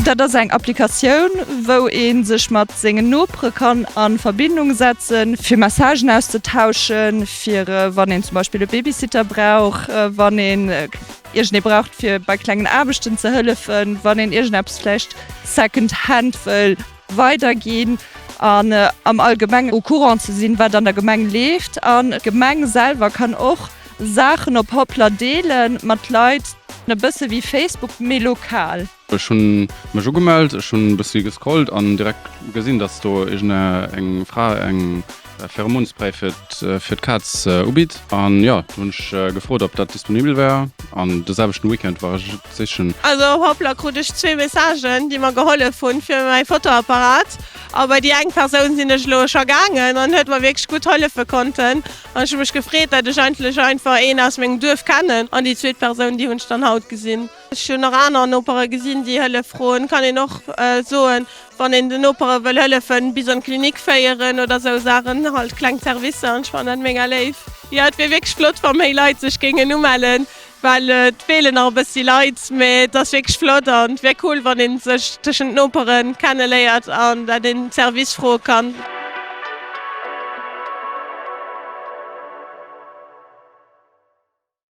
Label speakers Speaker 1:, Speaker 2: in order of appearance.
Speaker 1: Dat ass eng Applikatioun, wou een sech mat sengen Nopere kann a Verbindung setzen, fir Messagen auszetauschen, fir wann een zum Beispill e Babysitter brauch, wann een iergendee braucht, fir bei klengen Aarbechten ze hëllefen, wann een iergendeppes vläicht second hand wëll. weider ginn an am allgemengen au courant ze sinn, wat an der Gemeng leeft. An d'Gemeng selwer kann och Saachen op Hoplr deelen mat Leit, e bësse wéi Facebook, mee lokal. Ech hu
Speaker 2: mech ugemellt, ech hunn e bëssi gescrollt an direkt gesinn, dass do iergendeng Fra eng. Pheromonspray fir d'Kaz ubitt. An jo, do hunn ech gefrot, ob dat disponibel wär. An de selwechten Weekend war ech et sichen. Also op Hoplr krut
Speaker 3: ech zwee Messagen, déi mer gehollef hunn fir mäi Fotoapparat. A bei déi eng Persoun sinn ech elo scho gaangen an huet mer wierklech gutt hollefe konnten. An ech hu mech gefreet, datt ech eigentlech einfach een aus mengem Duerf kennen. An déi zweet Persoun, déi hunn ech dann haut gesinn. Ech hunn och aner Nopere gesinn, déi Hëllef froen. Kann een och soen, wann een den Nopere wëll hëllefen, bis an d'Klinik féieren oder esou Saachen, halt kleng Servicer. An ech fannen dat mega léif. Jo, et wier wierklech flott, wa méi Leit sech géingen umellen, well et feelen nach e bëssi Leit. Mee et ass wierklech flott an et wier cool, wann ee sech tëschent Nopere kenne léiert an dat een Service froe kann.